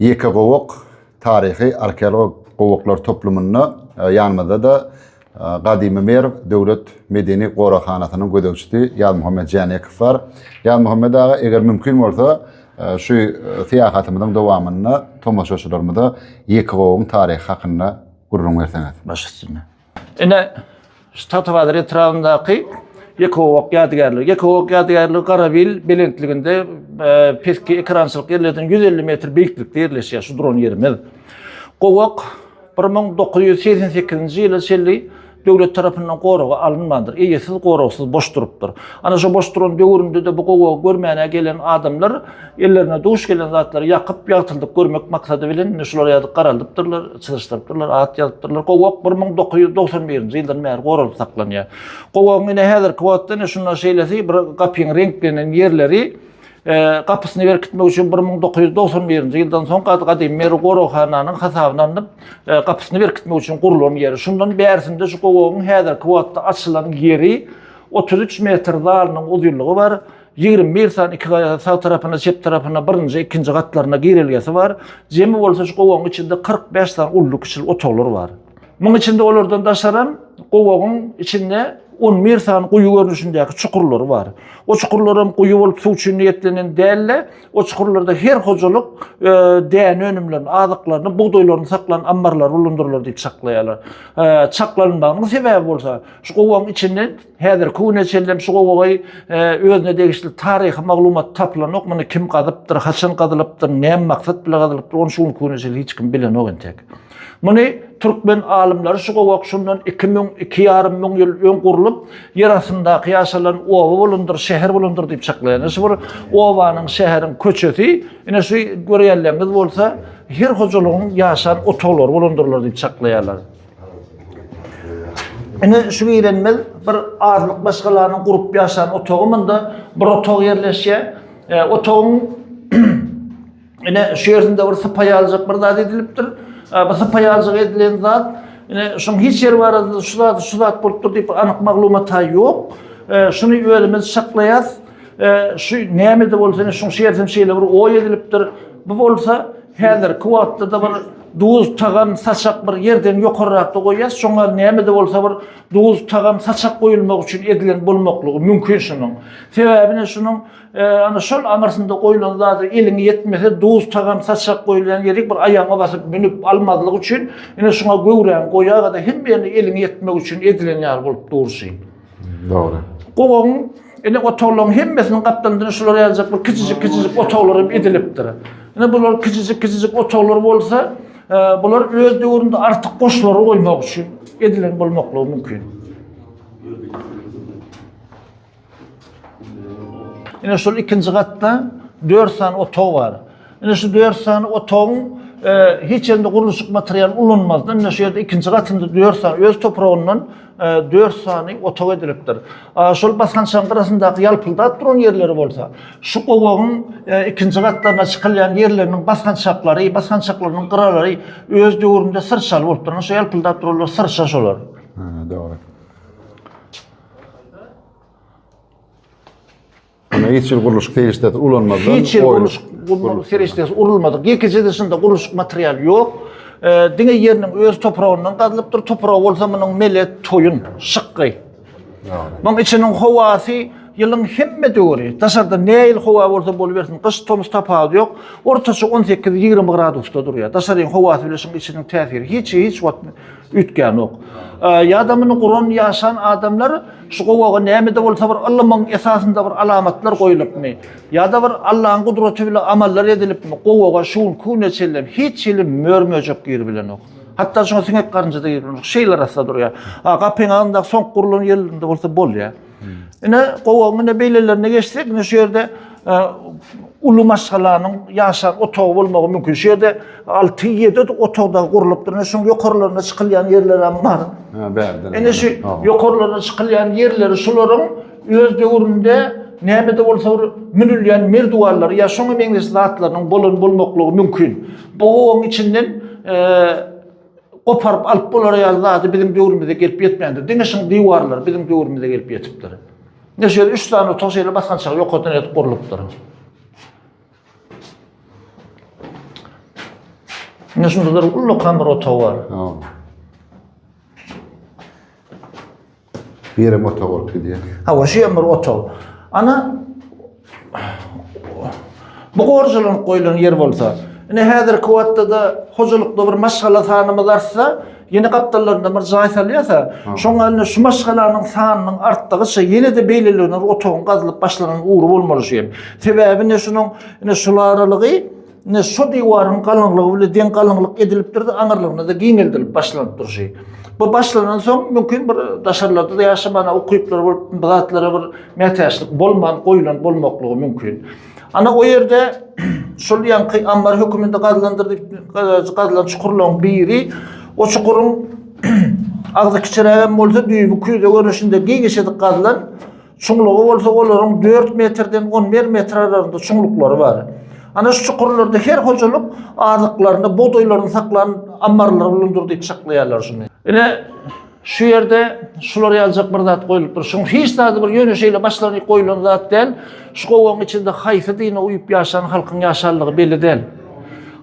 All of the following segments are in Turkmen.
Ýeke gowak taryhy arkeologik gowaklar toplumynda ýanymyzda-da Gadymy Merw döwlet medeni goraghanasynyň gözegçisi Ýazmuhammet Jänekow bar. Ýazmuhammet aga, eger mümkin bolsa, şu syýahatymyzyň dowamynda tomaşaçylarymyza Ýekegowagyň taryhy hakynda gürrüň berseňiz. Baş üstüne. Ine, şu Tatybazyr etrabyndaky Ekogowak ýadygärligi. Ekogowak ýadygärligi Garabil belentliginde e, peski ekerançylyk ýerlerden 150 metr beýiklikde ýerleşýär şu duran ýerimiz. Gowak 1988-nji ýyla çenli döwlet tarapyndan goraga alynmandyr. Eýesiz, goragsyz boş durupdyr. Ana şu boş duran döwründe-de bu gowagy görmäne gelen adamlar Ellerine duş gelen zatlary ýakyp, ýagtyldyp görmek maksady bilen indi şular ýazyp garaldypdyrlar, çyzyşdyrypdyrlar, at ýazypdyrlar. Gowak bir müň dokuz ýüz dogsan birinji ýyldan bäri goralyp saklanýar. Gowagyň ine häzirki wagtda ine şunda şeýlesi bir gapyň reňklenen ýerleri e, gapysyny berkitmek üçin bir müň dokuz ýüz dogsan birinji ýyldan soň gad- gadymy Merw goraghananyň hasabyna alnyp, e, gapysyny berkitmek üçin gurlan ýeri. Şundan bärisinde şu gowagyň häzirki wagtda açylan ýeri otuz üç metr zalynyň uzynlygy bar. Ýigrimi bir sany iki gaýa sag tarapynda, çep tarapynda birinji, ikinji gatlarynda girelgesi bar. Jemi bolsa şu gowagyň içinde kyrk bäş sany uly-kiçili otaglar bar. Munuň içinde olardan daşaram gowagyň içinde on bir sany guýy görnüşindäki çukurlary bar. O çukurlaram guýy bolup suw üçin niýetlenen däldi. O çukurlarda her hojalyk däne önümlerini, azyklaryny, bugdaýlaryny saklan ammarlary bulundyrlar diýip çaklaýarlar. Çaklanylmagynyň sebäbi bolsa şu gowagyň içinde Häzirki güne çenlem şu gowagy özüne degişli taryhy maglumat tapylanok, muny kim gazypdyr, haçan gazylypdyr, näme maksat bilen gazylypdyr, ony şu günki güne çenli hiç kim bilenok entek. Muny türkmen alymlary şu gowak şundan 2000, 2,5 müň ýyl öň gurlup, ýer astyndaky ýaşalan oba bolandyr, şäher bolandyr diýip çaklaýarlar. Şu bir obanyň, şäheriň köçesi, ine şu görýänlerimiz bolsa, her hojalygyň ýaşan otaglary bolandyrlar diýip çaklaýarlar. Ine şu girenmez bir azlyk maşgalarynyň gurup ýaşan otagy munda bir otag ýerleşýär. E, otagyň ine şu ýerinde bir sypaý aljak bir zat edilipdir. E, bu sypaý aljak edilen zat ine şuň hiç ýer barada şu zat şu zat bolupdyr diýip anyk maglumat ýok. E, şuny özümiz şaklaýas. E, şu näme de bolsa şuň şu ýerden şeýle bir oý edilipdir. Bu bolsa häzirki wagtda da bir Duz, tagam, saçak bir ýerden ýokarrakda goýýas, şoňa näme-de bolsa bir duz, tagam, saçak goýulmagy üçin edilen bolmaklygy mümkin şunuň. Sebäbi ne şunuň, ana şol aňyrsynda goýlan zada eliň ýetmese, duz, tagam, saçak goýulýan ýerik bir aýagyňa basyp münüp almazlyk üçin, ine şuňa göwräň goýaga-da hemme ýerine eliň ýetmegi üçin edilen ýaly bolup durşy. Dogry. Gowagyň ele otaglaryň hemmesiniň gapdalyndan şular ýaljak bir kiçijik-kiçijik otaglar hem edilipdir. Ine bular kiçijik-kiçijik otaglar bolsa, e, bular öz döwründe artyk goşlary goýmak üçin edilen bolmaklygy mümkin. Ine şol ikinji gatda dört sany otag bar. Ine şu dört sany otagyň hiç hende gurluşyk materialy ulanmazdan, ine şu ýerde ikinji gatynda dört sany öz topragyndan dört sany otag edilipdir. Şol basgançagyň gyrasyndaky ýalpyldap duran ýerleri bolsa, şu gowagyň ikinji gatlaryna çykylýan ýerleriniň basgançaklary, basgançaklarynyň gyralary öz döwründe syrçaly bolupdyr. Ine şu ýalpyldap duranlar syrça şolar. Dogry. Ýöne hiç ýyl gurluşyk serişdesi ulanmazdan Hiç ýyl gurluşyk gurluşyk serişdesi urulmadyk. Ýekeje dişinde gurluşyk materialy ýok. Diňe ýeriniň öz topragyndan gazylypdyr. Topragy bolsa munuň mele toýun, şykgy. Munuň içiniň howasy ýylyň hemme döwri, daşarda näil howa bolsa bolubersin, gyş, tomus tapawudy ýok. Ortaça on sekiz, ýigrimi gradusda durýar. Daşaryň howasy bilen şuň içiniň täsiri hiç hiç wagt üýtgänok. Ýa-da muny guran, ýaşan adamlar Şu gowaga näme-de bolsa bir ylymyň esasynda bir alamatlar goýulypmy, ýa-da bir Allaň gudraty bile amallar edilipmi, gowaga şu günki güne çenlem hiç hili mör-möjek giribilenok. Hatda şoňa siňek-garynja-da giribilenok. Şeýle arassa durýar. A gapyň agzyndaky soňky gurlan ýerlerinde bolsa bolýar. Ine, gowagyň ine beýlelerine geçsek, ine şu ýerde uly maşgalanyň ýaşap otagy bolmagy mümkin. Şu ýerde 6-7 otagda gurlupdyr. Ine şuň ýokarlaryna çykylýan ýerler hem bar. Ha, bärde. Ine şu ýokarlaryna çykylýan ýerleri şularyň öz döwründe näme-de bolsa bir münülýän merdiwanlary ýa şoňa meňzeş zatlarynyň bolan bolmaklygy mümkin. Bu obaň içinden goparyp alyp bolar ýaly zady biziň döwrümize gelip ýetmändir. Diňe şuň diwarlary biziň döwrümize gelip ýetipdir. Ne şeýle üç sany otag şeýle basgançak ýokardan edip gurlupdyr. Ne şunda bir ullakan bir otag bar. Birem otag bolup gidýär. Hawa, şu ýam bir otag. Ana bu gorjulanyp goýlan ýer bolsa, ine häzirki wagtda-da hojalykda bir maşgala sanymyz artsa, ýene gapdallarynda bir jaý salýasa, şoňa indi şu maşgalanyň sanynyň artdygyça ýene-de beýlelerine bir otagyň gazylyp başlanan ugry bolmaly şu ýer. Sebäbi ine şunuň ine şul aralygy Ine şu diwaryň galyňlygy bile deň galyňlyk edilipdir-de, aňyrlygyna-da giňeldilip başlanyp durşy. Bu başlanan soň, mümkin bir daşarlarda-da ýaşamana ukyplar bolup, bu zatlara bir mätäçlik bolman goýlan bolmaklygy mümkin. Ana o ýerde şol ýaňky ammar höküminde gazylandyr diýip, gazylan çukurlaryň biri, o çukuryň agzy kiçirägem bolsa, düýbi küýze görnüşinde giňişedik gazylan, Çuňlugy bolsa olaryň dört metrden on bir metr aralygynda çuňluklary bar. Ana şu çukurlarda her hojalyk azyklaryny, bugdaýlaryny saklan ammarlar bolandyr diýip çaklaýarlar şuny. Ine şu ýerde şular ýaljak bir zat goýlupdyr. Şuň hiç zady bir ýöne şeýle başlanyk goýlan zat däl. Şu gowagyň içinde haýsy dine uýup ýaşan halkyň ýaşanlygy belli däl.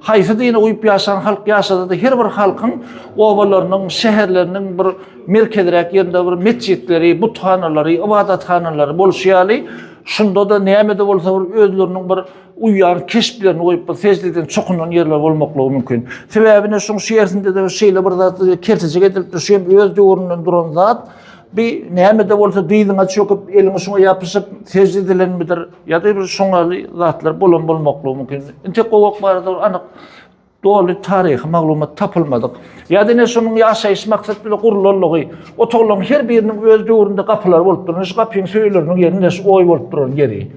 Haýsy dine uýup ýaşan halk ýaşasa-da her bir halkyň obalarynyň, şäherleriniň bir merkezräk ýerinde bir metjitleri, buthanalary, ybadathanalary bolşy ýaly, şunda-da näme-de bolsa bir özleriniň bir uýýan keşplerini goýup, bir sejleden çokunan ýerleri bolmaklygy mümkin. Sebäbi ine şuň şeýersinde-de şeýle bir zat kertejik edilipdir, şu hem öz döwründen duran zat. Bir näme-de bolsa dyzyňa çöküp, eliňi şuňa ýapyşyp, sejde edilenmidir ýa-da bir şoňa ýaly zatlar bolan bolmaklygy mümkin. Intek gowak barada anyk Doly taryhy maglumat tapylmadyk. Ýa diňe şonuň ýaşaýyş maksat bilen gurlanlygy, otaglaryň her biriniň öz döwründe gapylary bolup durany, şu gapyň söýeleriniň ýerinde şu oý bolup duran ýeri.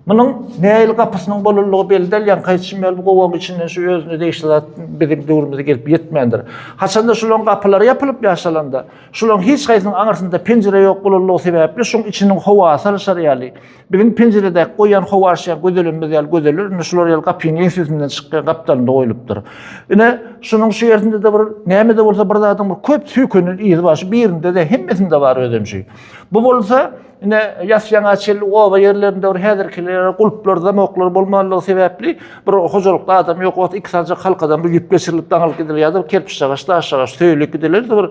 Munuň nähili gapysynyň bolanlygy belli däl, ýaňky aýdyşym ýaly bu gowagyň içinden şu özüne degişli zat biziň döwrümize gelip ýetmändir. Haçanda şolaryň gapylary ýapylyp ýaşalanda, şolaryň hiç haýsynyň aňyrsynda penjire ýok bolanlygy sebäpli şoň içiniň howasy alyşar ýaly, Biziň penjirede goýan howaşýa gözelenimiz ýaly gözeler, indi şular ýaly gapyň eňsesinden çykýan gapdalynda goýlupdyr. Ine, şunuň şu ýerinde-de bir, näme-de bolsa bir zadyň bir köp söýkenen yzy bar, şu birinde-de, hemmesinde bar özünçe. Bu bolsa, ine, ýas-ýaňa çenli oba ýerlerinde bir häzirkilere gulplar, zamoklar bolmanlygy sebäpli, bir hojalykda adam ýok bolsa, iki sanjak halkadan bir ýüp geçirilip daňylyp gidiler ýa-da bir kerpiçjagaş, daşjagaş söýülip gidiler-de bir,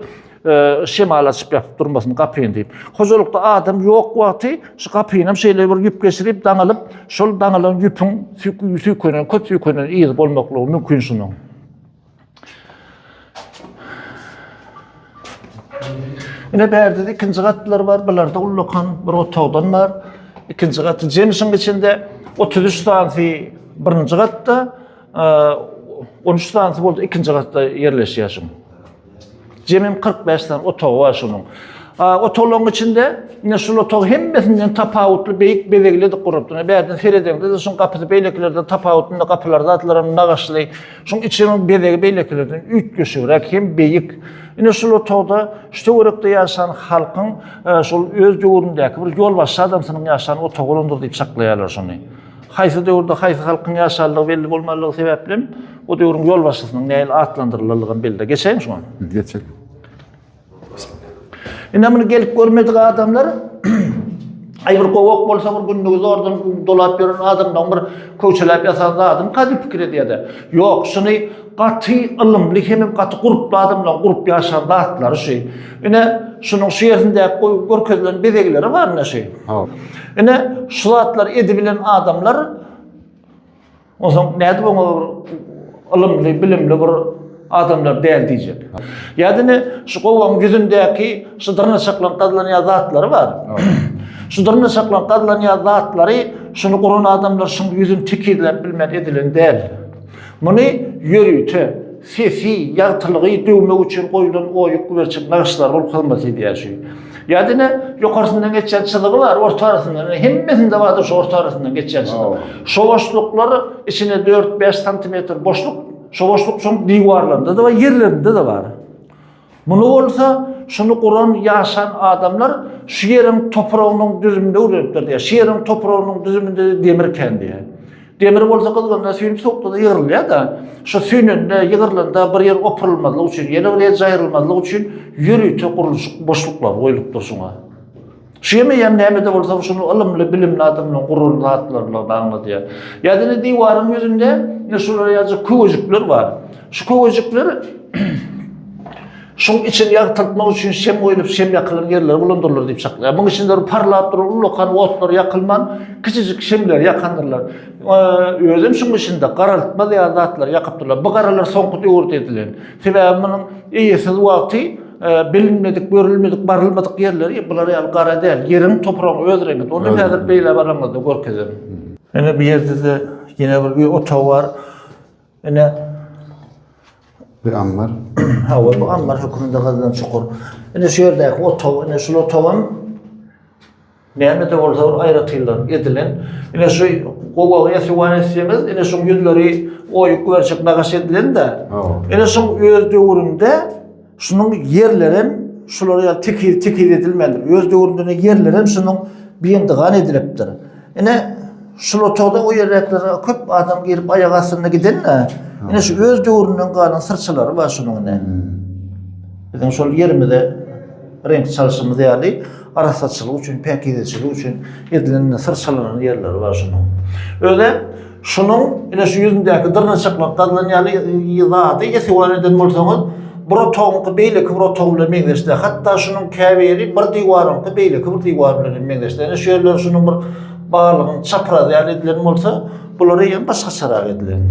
şemal açyp ýapyp durmasyn gapyny diýip. Hojalykda adam ýok wagty şu gapyny hem şeýle bir ýüp geçirip daňylyp, şol daňylan ýüpüň süýkünen, köp süýkünen ýygy bolmaklygy mümkin şunuň. Ine bärde ikinji gatlar bar, bularda ullakan bir otagdan bar. Ikinji gaty jemişiň içinde 33 sansi birinji gatda, 13 sansi boldy ikinji gatda ýerleşýär şuň. Jemim 45 sany otagy bar şunuň. Otaglaryň içinde ine şul otag hemmesinden tapawutly beýik bezegli edip gurupdyr. Bärden seredeňde şuň gapysy beýlekilerden tapawutly, indi gapylar zatlar hem nagyşly. Şuň içiniň bezegi beýlekilerden üýtgeşigräk hem beýik. Ine şul otagda şu töwerekde ýaşan halkyň e, şol öz döwründäki bir ýolbaşçy adamsynyň ýaşan otagy bolandyr diýip çaklaýarlar şuny. Haýsy döwürde haýsy halkyň ýaşandygy belli bolmanlygy sebäplem, o döwrüň ýolbaşçysynyň nähili atlandyrylanlygam belli. Geçäými şuňa? Geçelim. Ine muny gelip görmedik adamlar Ay bir kovak bolsa bir gündüz oradan dolap yören adamdan bir köçelap yasan zadım kadim fikir ediyede. Yok şunu Gaty ylymly hemem gaty gurply adamlaryň gurup ýaşan zatlary şu. Ine şunuň şu ýerinde goýup görkezilen bezegleri bar ine şu. Hop. Ine şu zatlar edibilen adamlar Onsoň nädip oňa ylymly, bilimli bir adamlar däl diýjek. Ýa-da ne şu gowaň ýüzündäki şu dyrnaşaklan gazlanýan zatlary bar. şu dyrnaşaklan gazlanýan zatlary şuny guran adamlar şuň ýüzüni tekizläp bilmän edilen däl. Muny ýörite, sesi, ýagtylygy döwmek üçin goýlan oýuk güberçek nagyşlar bolup hyzmat edýär şu. Ýa diňe ýokarsyndan geçýän çyzygy bar, orta arasyndan, hemmesinde bardyr şu orta arasyndan geçýän çyzyk. Şo boşluklar içine dört-bäş santimetr boşluk, şo boşluk şoň diwarlarynda-da bar, ýerlerinde-de bar. Muny bolsa şuny guran ýaşan adamlar şu ýeriň topragynyň düzüminde öwrenipler diýýär. Şu ýeriň topragynyň düzüminde demir kän diýýär. Demir bolsa gyzgynda süýnüp sowukda-da ýygrylýar-da. Şu süýnende, ýygrylanda bir ýer opurylmazlyk üçin, ýene bir ýer jaýrylmazlyk üçin ýörite gurluşyk boşluklary goýlupdyr şuňa. Şu ýemeýäm näme-de bolsa şuny ylymly, bilimli adamlaryň guran zatlarydygyny aňladýar. Ýa diňe diwaryň ýüzünde ine şular ýaly köwejikler bar. Şu köwejikler şuň içini ýagtyltmak üçin şem goýlup, şem ýakylan ýerleri bulandyrlar diýip çaklaýar. Muň içinde bir parlap duran ullakan otlar ýakylman, kiçijik şemleri ýakandyrlar. Özem şuň içinde garaltma ýaly zatlary ýakypdyrlar. Bu garalar soňky döwürde edilen. Sebäbi munuň eýesiz wagty bilinmedik, görülmedik, barylmadyk ýerleri bular ýaly gara däl. Ýeriň, topragyň öz reňidir. Ony häzir beýle baramyzda görkezerin. Ine bu ýerde-de ýene bir öý otagy bar. Ine bir ammar. Hawa, bu ammar höküminde gazylan çukur. Ine şu ýerdäki otag, ine şul otagam Näme-de bolsa bir aýratynlar edilen. Ine şu gowagy ýasywan etseňiz, ine şuň ýüzleri oýup guberjek nagaş edilen-dä. Ine şuň öz döwründe şunuň ýerlerem şulara ýaly tekiz tekiz edilmändir. Öz döwründe ine ýerlerem şunuň biýndigan edilipdir. Ine şul otagda o ýerräklere köp adam girip aýak astynda giden-dä. Ine şu öz döwründen galan syrçalary bar şunuň ine. Biziň şol ýerimize reňk çalşymyz ýaly. Arassaçylyk üçin, päkizeçilik üçin edilen ine syrçalanan ýerleri bar şunuň. Özi şunuň ine şu ýüzündäki dyrnaçaklap gazylan ýaly y zady ýesiwan eden bolsaňyz, bir otagyňky beýleki bir otag bilen meňzeşdä. Hatda şunuň käbiri bir diwaryňky beýleki bir diwar bilen hem meňzeşdä. Ine şu ýerleri şunuň bir balygyň çaprazy ýaly edilen bolsa, bulary hem başgaçarak edilen.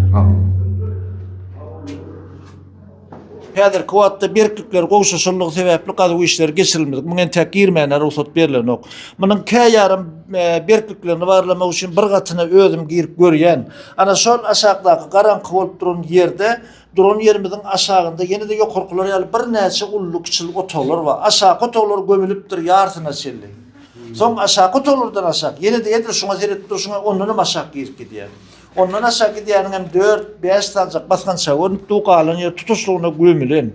Häzirki wagtda berklikler gowşaşanlygy sebäpli gazuw işleri geçirilmedik. Muňa entäk girmäne rugsat berilenok. Munuň käýarym e, berkliklerini barlamak üçin bir gatyna özüm girip görýän. Ana şol aşakdaky garaňky bolup duran ýerde duran ýerimiziň aşagynda ýene-de ýokarkylar ýaly birnäçe uly-kiçili otaglar bar. Aşaky otaglar gömülipdir ýarsyna çenli. Soň aşaky otaglardan aşak ýene-de edil şuňa seretip durşuňa ondan hem aşak girip gidýär. Ondan aşak gidýäniňem dört, bäş sanjak basgançaga görnüp dur, galan ýer tutuşlygyna gömülen.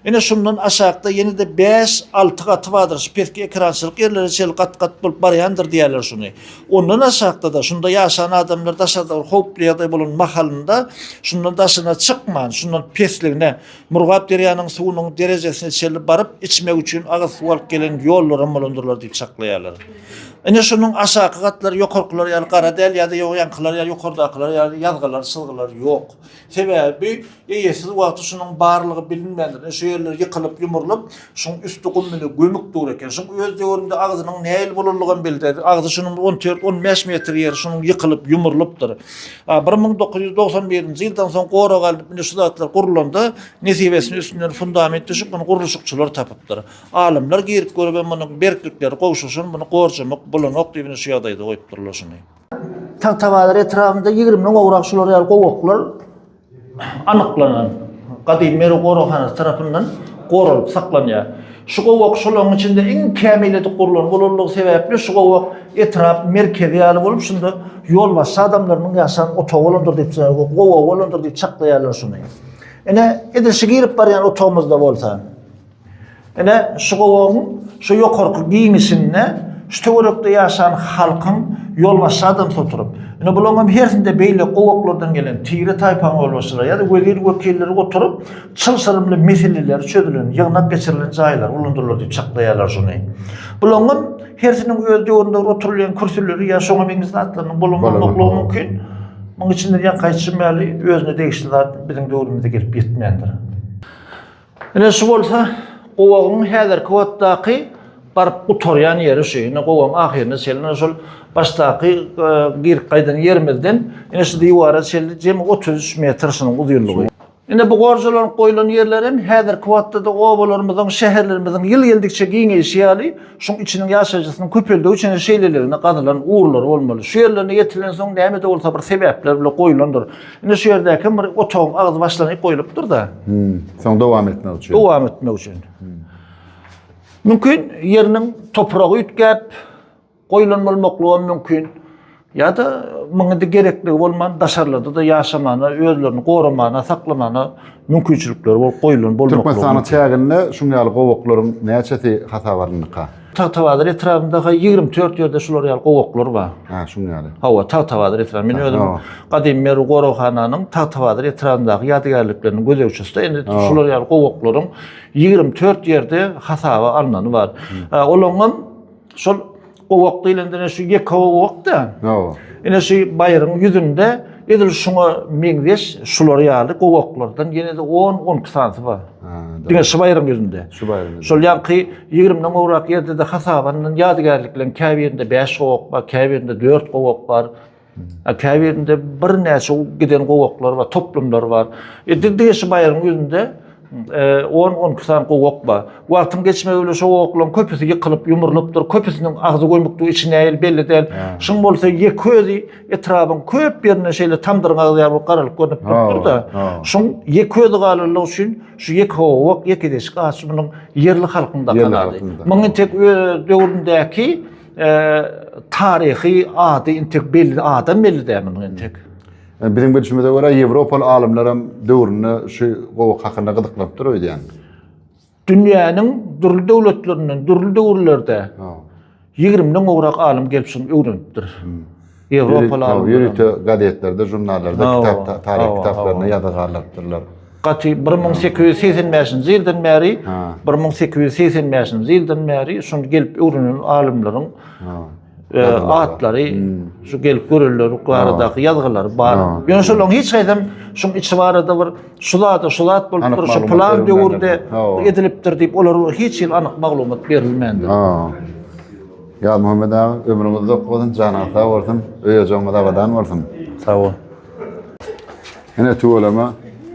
Ine, şundan aşakda ýene-de bäş, alty gaty bardyr, şu peski ekerançylyk ýerlere çenli gat-gat bolup barýandyr diýýärler şuny. Ondan aşakda-da, şunda ýaşan adamlar daşarda bir howply ýagdaý bolan mahalynda, şundan daşyna çykman, şundan pesligine, Murgap derýanyň suwunyň derejesine çenli baryp, içmek üçin agyz suw alyp gelen ýollaram bolandyrlar diýip çaklaýarlar. Ine şunuň aşaky gatlary ýokarkylar ýaly gara däl ýa-da ýoýankylar ýaly ýokardakylar ýaly ýazgylar, çyzgylar ýok. Sebäbi eýesiz wagty şunuň barlygy bilinmändir. Ine şu ýerler ýykylyp, ýumrulyp, Şuň üsti gum bile gömük dur eken. Şuň öz döwründe agzynyň nähili bolanlygam belli däl. Agzy şunuň on dört, on bäş metr ýeri şunuň ýykylyp, ýumurlypdyr. A, bir müň dokuz ýüz togsan birinji ýyldan soň gorag alnyp, indi şu zatlar gurlanda, nesibesini üstünden fundament düşüp, muny gurluşykçylar tapypdyr. Alymlar girip görüp hem munuň berklikleri gowşuşan, muny gorjamak bolanok diýip, indi şu ýagdaýda goýupdyrlar şuny. Tagtabazar etrabynda ýigrimi gowrak şular ýaly gowaklar anyklanan gadymy Merw goraghanasy tarapyndan goralyp saklanýar. Şu gowak şolaryň içinde iň kämil edip gurlan bolanlygy sebäpli şu gowak etrap merkezi ýaly bolup, şunda ýolbaşçy adamlarynyň ýaşan otagy bolandyr diýip, gowagy bolandyr diýip çaklaýarlar şuny. Ine, edil şu girip barýan otagymyzda bolsa, Ine, şu gowagyň şu ýokarky giňişinde şu töwerekde ýaşan halkyň ýolbaşçy adamsy oturyp, ine bularyňam hersinde beýle gowaklardan gelen tire-taýpaň ýolbaşçylary ýa-da wezir-wekilleri oturyp, çylşyrymly meseleleri çözülen, ýygnak geçirilen jaýlary gulandyrlar diýip çaklaýarlar şuny. Bularyňam hersiniň öz döwründe oturylýan kürsüleri ýa şoňa meňzeş zatlarynyň bolanmaklygy mümkin. Munuň üçin de diýýän, gaýtjym ýaly, özüne degişli zat biziň döwrümize gelip ýetmändir. Ine şu bolsa gowagyň häzirki wagtdaky baryp gutarýan ýeri şu. Ine gowagyň ahyrynda şeýle şol başdaky e, girip gaýdan ýerimizden ine şu diwara şeýle jemi 33 metr şunuň uzynlygy. Ine bu gorjalanyp goýlan ýerler hem häzirki wagtda-da obalarymyzyň, şäherlerimiziň ýyl geldikçe giňeýşi ýaly, şuň içiniň ýaşaýjysynyň köpeldigi üçin şeýleligine gazylan ugurlary bolmaly. Şu ýerlerine ýetilensoň näme-de bolsa bir sebäpler bile goýlandyr. Indi şu ýerde kim bir otagyň agzy başlanyp goýlupdyr-da. Hmm. Soň dowam etmek üçin. Dowam etmek üçin. Hmm. Mümkin ýeriniň topragy üýtgäp goýlan bolmaklygy hem mümkin. Ýa-da muňa-da gerekligi bolman daşarlarda da ýaşamana, özlerini goramana, saklamana mümkinçilikleri bolup goýlan bolmaklygy. Türkmenistanyň çäginde şuň ýaly gowaklaryň näçesi hasaba alyndyka? Tagtabazar etrabynda ha 24 ýerde şular ýaly gowaklar bar. Ha, şuň ýaly. Hawa, Tagtabazar etraby. Men özüm gadymy Merw goraghananyň Tagtabazar etrabyndaky ýadygärlikleriniň gözegçisi. Indi şular ýaly gowaklaryň 24 ýerde hasaba alnany bar. Olaryň hem şol gowak diýlende şu ýeke gowak-da. Hawa. Ine şu baýryň ýüzünde Edil şuňa meňzeş şular ýaly gowaklardan ýene-de 10-on iki sanysy bar. Diňe şu baýryň ýüzünde. Şu baýryň ýüzünde. Şol ýaňky ýigrimden gowrak ýerde-de hasabandan ýadygärlikleriň käbirinde bäş gowak bar, käbirinde dört gowak bar. A käbirinde birnäçe giden gowaklar bar, toplumlar bar. E, diňe şu baýryň ýüzünde On-on iki sany gowak bar. Wagtyň geçmegi bilen şo gowaklaryň köpüsi ýykylyp, ýumrulypdyr. Köpüsiniň agzy gömükdir, içi nähili belli däl. Şuň bolsa ýeke özi etrabyň köp ýerinde şeýle tamdyryň agzy ýaly bolup garalyp görnüp durupdyr-da. Şuň ýeke özi galanlygy üçin şu ýeke gowak, ýeke deşik agaç munuň ýerli halkyň dakan ady. Munuň entek öz döwründäki taryhy ady entek belli, adam belli däl munuň entek. Biziň bilşimize görä, ýewropaly alymlar hem döwründe şu gowak hakynda gyzyklanypdyr öýdýän. Dünýäniň dürli döwletlerinden, dürli döwürlerde ýigrimden gowrak alym gelip şuny öwrenipdir. Hmm. Ýewropaly alymlar. Ýörite gazetlerde, žurnallarda, kitap, taryh kitaplarynda ýazga galypdyrlar. Gaty 1885-nji ýyldan bäri, 1885-nji ýyldan bäri şuny gelip öwrenen alymlaryň e, atlary, şu gelip görenler baradaky ýazgylar bar. Ýöne şolaryň hiç haýsam şuň içi barada bir şu zada şu zat bolupdyr, şu plan döwürde edilipdir diýip, olar hiç hil anyk maglumat berilmändir. Ya Muhammed aga, ömrüňiz uzak bolsun, janyňyz sag bolsun, öýe-joňyz abadan bolsun. Sag bol. Ene tüweleme,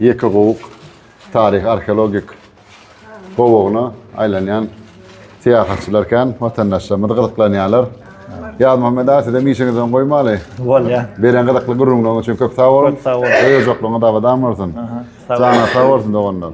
ýeke gowuk, taryhy arheologik gowagyna aýlanýan syýahatçylar kän, watandaşlarymyz gyzyklanýarlar. Ýazmuhammet aga sizem işiňizi öň goýmaly. Bolýa. Beren gyzykly gürrüňleriňiz üçin köp sag boluň. Köp sag boluň. Öýüjoklygyňyz abadan bolsun. Janyňyz sag bolsun doganlar.